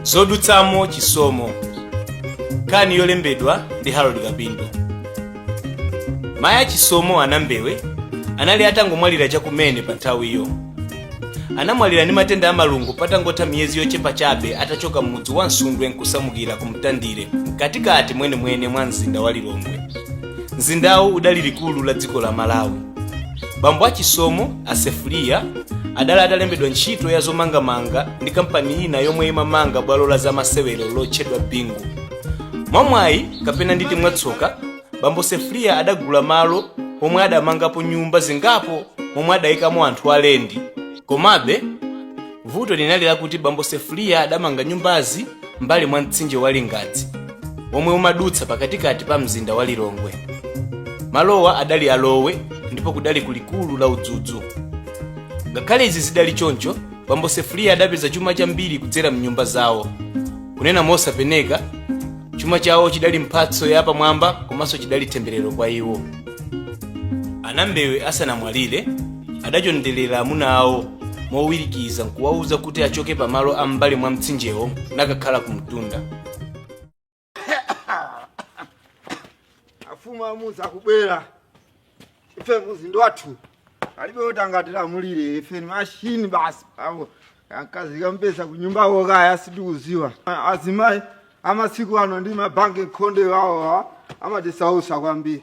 zodutsamo chisomo nkhani yolembedwa ndi harold kapindo mayi a chisomo anambewe anali atangomwalira chakumene pa nthawiyo anamwalira ndi matenda a malungo patangotha miyezi yochepa chabe atachoka m'mudzi wa msundwe nkusamukira ku mtandire mkatikati mwenemwene mwa mzinda wa lilongwe mzindawu udali likulu la dziko la malawi bambo a chisomo a sefuliya adali atalembedwa ntchito ya zomangamanga ndi kampani ina yomwe imamanga bwalo la zamasewero lotchedwa bingu mwamwayi kapena nditi mwatsoka bambo sefuliya adagula malo omwe adamangapo nyumba zingapo momwe adayikamo anthu alendi komabe vuto linali lakuti bambo sefuliya adamanga nyumbazi m'mbali mwa mtsinje wa lingadzi womwe umadutsa pakatikati pa mzinda wa lilongwe malowa adali a lowe ndipo kudali ku likulu la udzudzu ngakhale izi zidali choncho bambo sefuliya adapeza chuma chambiri kudzera m'nyumba zawo kunena mosapeneka chuma chawo chidali mphatso yapamwamba komanso chidali temberero kwa iwo anambewe asanamwalire adachondelera amuna awo mowirikiza nkuwawuza kuti achoke pamalo a m'mbali mwa mtsinjewo nakakhala ku mtunda afumu amuuza kubwera ife umuzindo wathu alibe oti angatilamulire ife ni mashini basi awo akazikapesa kunyumbako kaya sitikuziwa azimayi amasiku ano ndi mabanki khonde wawowa amatisausa kwambiri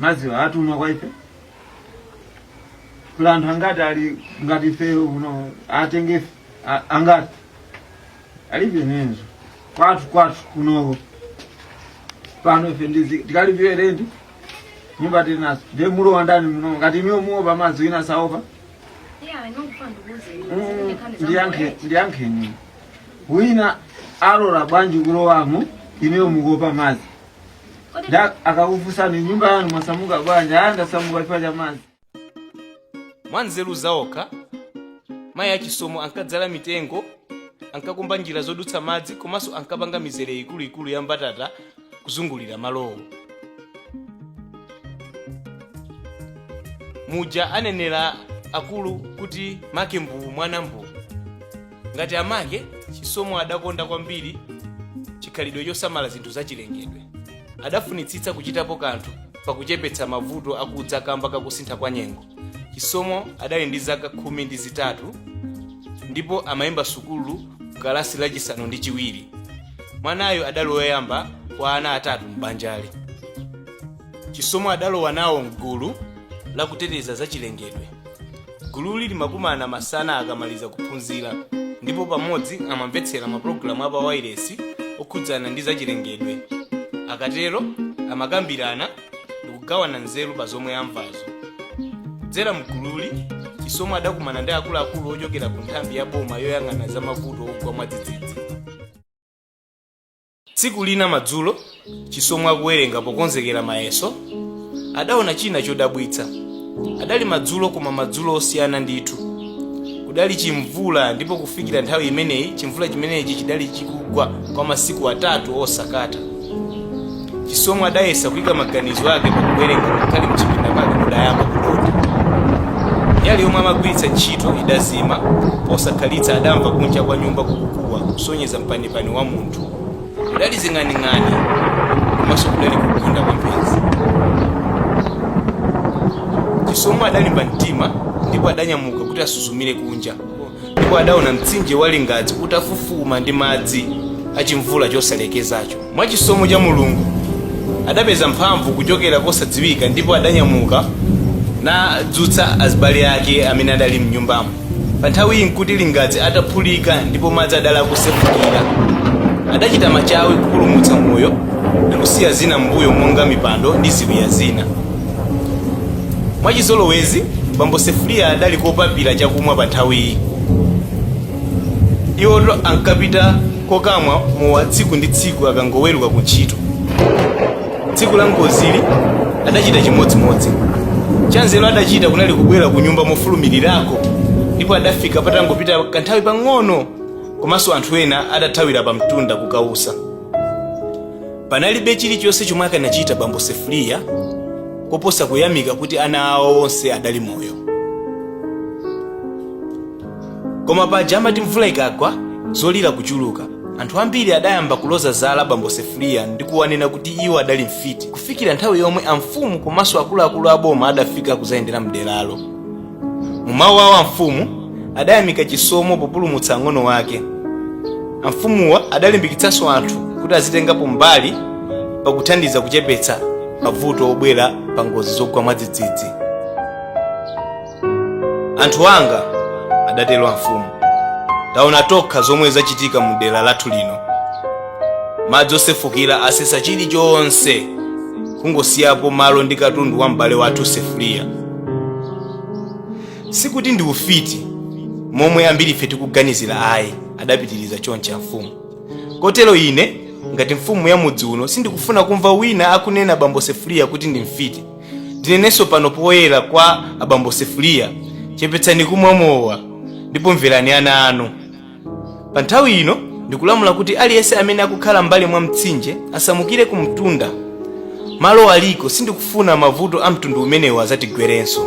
madziwa atumwa kwa ife kula anthu angati ali ngati ifeyo kuno atenge ife angati alibe nenzo kwathu kwathu kunoko pano ife tizikalipira lendi nyumba tili nazo ndiye mulowa ndani muno ngati inuyo muopa madzi wina saopa ndiyankheni wina alora bwanji kulowamo inuyo mukuopa madzi nda akakufunsani nyumba yanu mwasamuka bwanji aa ndasamuka chifukwa cha madzi mwa nzeru za okha mayi a chisomo ankadzala mitengo ankakumba njira zodutsa madzi komanso ankapanga mizere ikuluikulu ya mbatata kuzungulira malowo muja anenera akulu kuti make mbuwu mwana mbuwu ngati amake chisomo adakonda kwambiri chikhalidwe chosamala zinthu zachilengedwe adafunitsitsa kuchitapo kanthu pakuchepetsa mavuto akudza kamba kakusintha kwa nyengo chisomo adali ndi zaka khumi ndi zitatu ndipo amayimba sukulu kalasi lachisanu ndi chiwiri mwanayo adali woyamba kwa ana atatu m'banjali chisomo adalowa nawo mgulu la kuteteza za chilengedwe gululi limakumana masana akamaliza kuphunzira ndipo pamodzi amamvetsera mapulogalamu apa wailesi okhudzana ndi zachilengedwe akatero amakambirana ndikugawana nzeru pa zomwe amvazo kudzera mgululi chisomo adakumana ndi akuluakulu ochokera ku nthambi ya boma yoyang'ana za mavuto ogwa mwadzidzidzi Tsiku lina madzulo, Chisomo akuwerenga pokonzekera mayeso, adaona china chodabwitsa. Adali madzulo koma madzulo osiyana ndithu. Kudali chimvula ndipo kufikira nthawi imeneyi chimvula chimenechi chidali chikugwa kwa masiku atatu osakata. Chisomo adayesa kuika maganizo ake pakuwerenga ngakhale mchipinda mwake mudayamba kudontha. Nyali yomwe amagwiritsa ntchito idazima, posakhalitsa adamva kunja kwa nyumba kukukuwa kusonyeza mpani pani wa munthu kudali zing'aning'ani komanso kudali kugunda kwa mphenzi chisomo adalimba mtima ndipo adanyamuka kuti asuzumire kunja ndipo adaona mtsinje wa lingadzi utafufuma ndi madzi achimvula chosalekezacho mwa chisomo cha mulungu adapeza mphamvu kuchokera kosadziwika ndipo adanyamuka nadzutsa azibale ake amene adali mnyumbamo Panthawiyi n'kuti Lingadzi ataphulika ndipo madzi adali akusefukira. Adachita machawi kupulumutsa moyo ndi kusiya zina m'mbuyo monga mipando ndi ziwiya zina. Mwachizolowezi, bambo Sefuliya adali kopapira chakumwa panthawiyi. Iwoto ankapita kokamwa mowa tsiku ndi tsiku akangoweruka kuntchito. tsiku la ngozili adachita chimodzimodzi chanzeru adachita kunali kubwera ku nyumba mofulumirirako ndipo adafika patangopita kanthawi pang'ono komanso anthu ena adathawira pa mtunda kukausa panalibe chilichonse chomwe akanachita bambo sefuliya koposa kuyamika kuti ana awo onse adali moyo koma paja amati mvula ikagwa zolira kuchuluka anthu ambiri adayamba kuloza zala bambo sefuriya ndi kuwanena kuti iwo adali mfiti kufikira nthawi yomwe amfumu komanso akuluakulu a boma adafika kuzayendera mderalo mu mawu awo amfumu adayamika chisomo populumutsa ang'ono wake amfumuwa adalimbikitsanso anthu kuti azitengapo mbali pakuthandiza kuchepetsa mavuto obwera pa ngozi zogwa mwadzidzidzi anthu anga adatero amfumu taona tokha zomwe zachitika mu dera lathu lino madzi osefukira asesa chilichonse kungosiyapo malo ndi katundu wa m'bale wathu sefuliya sikuti ndi ufiti momwe ambiri ife tikuganizira ayi adapitiriza choncho amfumu kotero ine ngati mfumu ya mudzi uno sindikufuna kumva wina akunena bambo sefuliya kuti ndi mfiti ndinenenso pano poyera kwa abambo sefuliya chepetsani kumwa mowa ndipo mverani ana anu pa nthawi ino ndikulamula kuti aliyense amene akukhala mbali mwa mtsinje asamukire ku mtunda malo aliko sindikufuna mavuto a mtundu umenewu azatigwerenso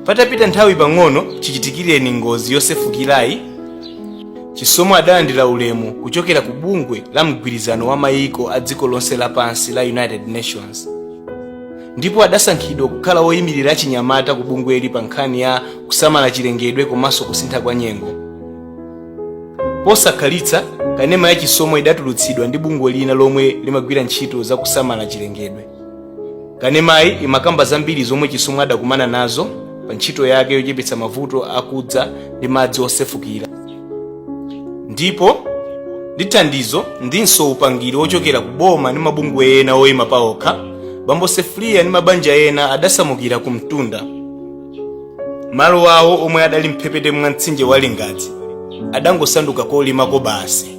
patapita nthawi pang'ono chichitikireni ngozi yosefukirayi chisomo adalandira ulemu kuchokera ku bungwe la mgwirizano wa mayiko a dziko lonse lapansi la united nations ndipo adasankhidwa kukhala woyimirira achinyamata ku bungweli pa nkhani ya kusamala chilengedwe komanso kusintha kwa nyengo posakhalitsa kanema ya chisomo idatulutsidwa ndi bungwe lina lomwe limagwira ntchito za kusamala chilengedwe kanemayi imakamba zambiri zomwe chisomo adakumana nazo pa ntchito yake yochepetsa mavuto akudza ndi madzi osefukira ndipo ndi thandizo ndinso upangiri wochokera ku boma ndi mabungwe ena oyima paokha bambo sefuliya ndi mabanja ena adasamukira ku mtunda malo awo omwe adali mphepete mwa mtsinje wa lingadzi adangosanduka kolimako basi